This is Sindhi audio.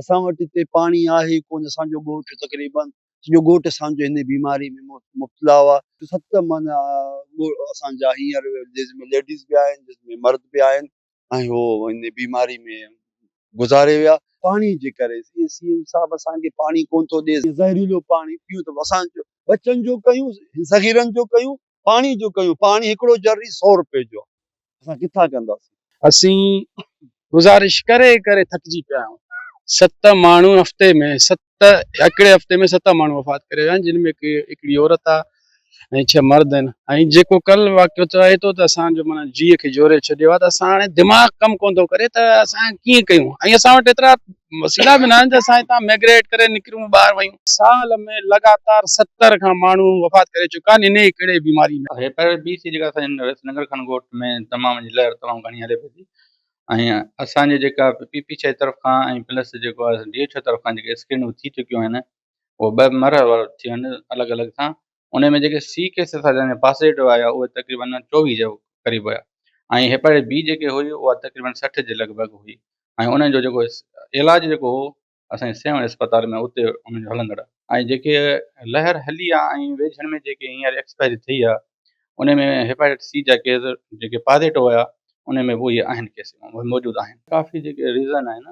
اسان وٽ اتي پاڻي آهي ئي ڪونه. اسان جو ڳوٺ تقريباً سڄو ڳوٺ اسان جو هن بيماري ۾ مبتلا هئا. ست معنيٰ ڳوٺ اسان جا هينئر جس ۾ ليڊيز به آهن جس ۾ مرد به آهن ۽ هو هن بيماري ۾ گذاري ويا. پاڻي جي ڪري سي ايم صاحب اسان کي پاڻي ڪونه ٿو ڏي. زهريلو پاڻي پيئون ته اسان جو ٻچن جو ڪيون صغيرن جو ڪيون پاڻي جون ڪيون، پاڻي هڪڙو جري سؤ روپيه جو آ، اسان ڪٿان ڪنداسين. اسين گذارش ڪري ڪري ٿڪجي پيا آهيون، ست ماڻهو هفتي ۾ ست هڪڙي هفتي ۾ ست ماڻهو وفات ڪري ويا آهن، جن ۾ هڪڙي عورت آ ۽ ڇهه مرد آهن ۽ جيڪو ڪل واقعو ٿيو آهي تو ته اسان جو معنيٰ جيء کي جهوري ڇڏيو آ ته اسان هاڻي دماغ ڪم ڪونه ٿو ڪري ته اسان ڪيئن ڪيون ۽ اسان وٽ ايترا وسيلا به ناهن جو اسان هتان ميگريٽ ڪري نڪرون ٻاهر ويون سال ۾ لڳاتار ستر کان ماڻهو وفات ڪري چڪا آهن انهي ڪڙي بيماري ۾. اهي پر بي سي جيڪا اسان جي رئيس ننگر خان ڳوٺ ۾ دمام جي لهر تمام گهڻي هلي پئي ٿي ۽ اسان جي جيڪا پي پي ڇهه طرف کان ۽ پلس جيڪو آهي ڊي اي ڇهه طرف کان جيڪي اسڪرينون ٿي چڪيون آهن اهي ٻه مرحلي وارو ٿيون آهن الڳ الڳ سان انهن ۾ جيڪي سي ڪيس اسان جا پازيٽو آيا اهي تقريبن چوويهه جي قريب هيا ۽ هيپاٽائٽس بي جيڪي هئي اها تقريبن سٺ جي لڳ ڀڳ هئي ۽ انهن جو جيڪو علاج جيڪو هو اسان جي سيون اسپتال ۾ اتي انهن جو هلندڙ ۽ جيڪي لهر هلي آ ۽ ويجهن ۾ جيڪي هينئر ايڪسپائري ٿي آ انهن ۾ هيپاٽائٽس سي جا ڪيس جيڪي پازيٽو هيا انهن ۾ به اهي آهن ڪيس اهي موجود آهن ڪافي جيڪي ريزن آهن